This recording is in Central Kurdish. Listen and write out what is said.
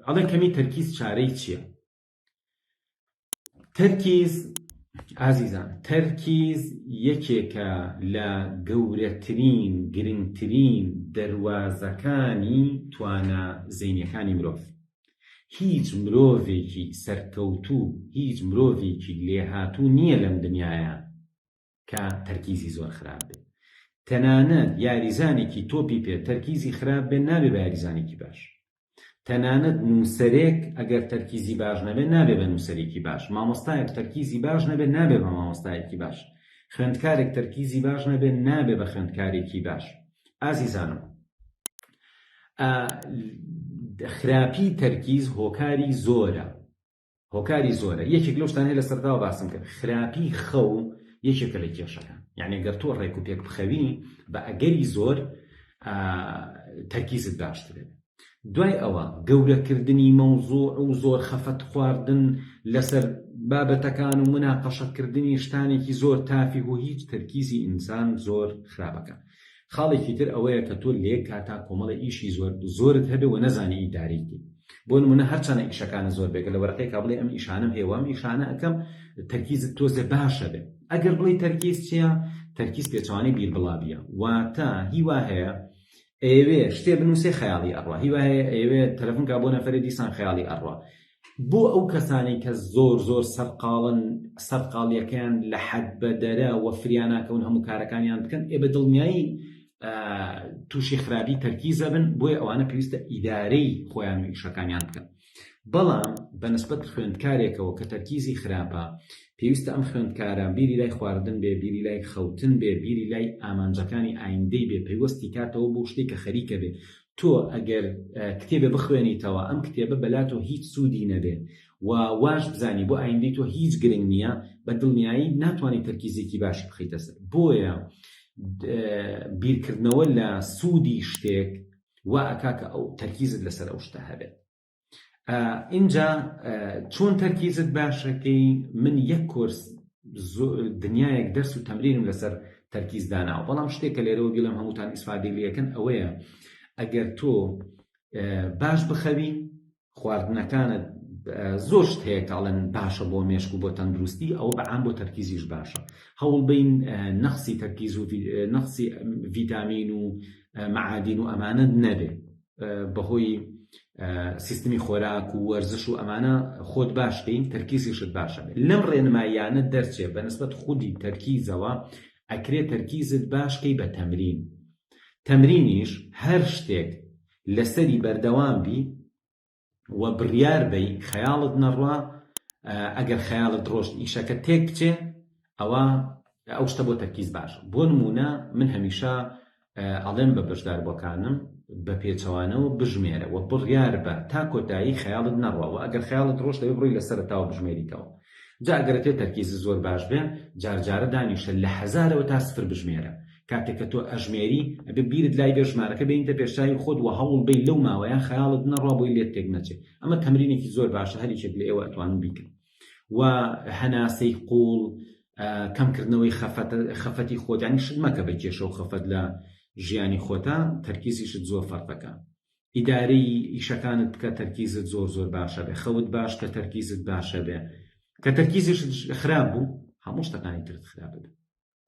ئەڵێ کەمی تەرکیز چارەی چییە تەرکیز ئازیزان تەرکیز یەکێکە لە گەورەترین گرنگترین دەواازەکانی توانە زینەکانی مرۆڤ هیچ مرۆڤێکی سەرکەوتوو هیچ مرۆڤێکی لێهاتوو نییە لەم دنیاە کە تەرکیزی زۆر خراپ بێ تەنانەت یاریزانێکی تۆپی پێ تەرکیزی خراپ بێ نابێ بە یاریزانێکی باش تەنانەت نووسەرێک ئەگەر تەرکیزی باش نەبێ نابێ بە نووسەرێکی باش مامۆستایەک تەرکیزی باش نەبێ نابێ بە مامۆستایەکی باش خوێندکارێک تەرکیزی باش نەبێ نابێ بە خوێندکارێکی باش ئازیزانم خراپی تەرکیز هۆکاری زۆرە هۆکاری زۆرە یەکێک لەو شتانەی لە سەرداوە باسم کرد خراپی خەو یەکێکە لە کێشەکان یعنی گەر تۆ ڕێک و پێک بخەوی بە ئەگەری زۆر تەرکیزت باشترێت دوای ئەوە گەورەکردنی مەوزوع و زۆر خەفەت خواردن لەسەر بابەتەکان و مناقەشەکردنی شتانێکی زۆر تافی و هیچ تەرکیزی ئینسان زۆر خراپەکە خاڵێکی تر ئەوەیە کە تۆ لەیەک کاتا کۆمەڵە ئیشی زۆر زۆرت هەبێ و نەزانی ئیدارەی بکەی بۆ نمونە هەرچەنە ئیشەکانە زۆر بێ گەر لە وەرەقەیەکا بڵێ ئەم ئیشانەم هەیە و ئەم ئیشانە ئەکەم تەرکیزت تۆزێ باشە بێ ئەگەر بڵێی تەرکیز چیە تەرکیز پێچەوانەی بیربڵاویە واتە هی وا هەیە ئەیەوێ شتێ بنووسێ خەیاڵی ئەڕا هی وا هەیە ئەیەوێ تەلەفۆن کا بۆ نەفەرێ دیسان خەیاڵی ئەڕا بۆ ئەو کەسانەی کە زۆر زۆر سەرقاڵن سەرقاڵیەکەیان لە حەد بەدەرە وە فریاناکەون هەموو کارەکانیان بکەن ئێ بە دڵنیایی تووشی خراپی تەرکیزە بن بۆیە ئەوانە پێویستە ئیدارەی خۆیان و ئیشەکانیان بکەن بەڵام بەنسبت خوێندکارێکەوە کە تەرکیزی خراپە پێویستە ئەم خوێندکارە بیری لای خواردن بێ بیری لای خەوتن بێ بیری لای ئامانجەکانی ئایندەی بێ پەیوەستی کاتەوە بۆ شتێک کە خەریکە بێ تۆ ئەگەر کتێبێ بخوێنیتەوە ئەم کتێبە بەلا تۆ هیچ سوودی نەبێ و واش بزانی بۆ ئایندەی تۆ هیچ گرنگ نییە بە دڵنیایی ناتوانانی تەرکیزێکی باش بخیتە سەر بۆیە بیرکردنەوە لە سوودی شتێک وا ئەکا کە ئەو تەرکیزت لەسەر ئەو شتە هەبێت ئینجا چۆن تەرکیزت باشەکەی من یەک کۆرس دنیایەک دەرس و تەمرینم لەسەر تەرکیز داناوە بەڵام شتێک کە لێرەوە بیڵم هەمووتان ئیسفادەی لەکەن ئەوەیە ئەگەر تۆ باش بخەوی خواردنەکانت زۆر شت هەیە کاڵن باشە بۆ مێشک و بۆ تەندروستی ئەو بەعام بۆ تەرکیزیش باشە هەوڵبین نەخسی تەرکیز و نەخسی ڤیتامین و معادین و ئەمانە نەبێت بەهۆی سیستمی خۆراک و وەرزش و ئەمانە خۆت باشکەین تەرکیزیشت باشە بێت لەم ڕێنماییانە دەرچێ بە نسبەت خودی تەرکیزەوە ئەکرێ تەرکیزت باشکەی بە تەمرین تەمرینیش هەر شتێک لەسەری بەردەوام بی و بڕیار بەی خەیاڵت نەڕوا ئەگەر خەیاڵت ڕۆشت ئیشەکە تێک بچێ ئەوە ئەو شتە بۆ تەرکیز باش بۆ نمونە من هەمیشە ئەڵێم بە بەشدار بۆکانم بە پێچەوانەوە بژمێرە و بڕیار بە تا کۆتایی خەیاڵت نەڕوا و ئەگەر خەیاڵت ڕۆشت دەبێ بڕۆی لە سەرەتاوە بژمێریتەوە جا گەر پێت تەرکیزت زۆر باش بێ جار جارە دانیشە لە هەزارەوە تا سفر بژمێرە کاتێک کە تۆ ئەژمێری ئەبێ بیرت لای بێ ژمارەکە بێنیتە پێش چاوی خۆت وە هەوڵ بەی لەو ماوەیە خەیاڵت بنە ڕوا بۆی لێت تێک نەچێ ئەمە تەمرینێکی زۆر باشە هەر یەکێک لە ئێوە ئەتوانن بیکەن وە هەناسەی قوڵ کەم کردنەوەی خەفەت خەفەتی خۆت یانی شت مەکە بە کێشە و خەفەت لە ژیانی خۆتە تەرکیزیشت زۆر فەرقەکە ئیدارەی ئیشەکانت بکە تەرکیزت زۆر زۆر باشەبێ خەوت باش کە تەرکیزت باشەبێ کە تەرکیزیشت خراپ بوو هەموو شتەکانی ترت خراپ دەبێ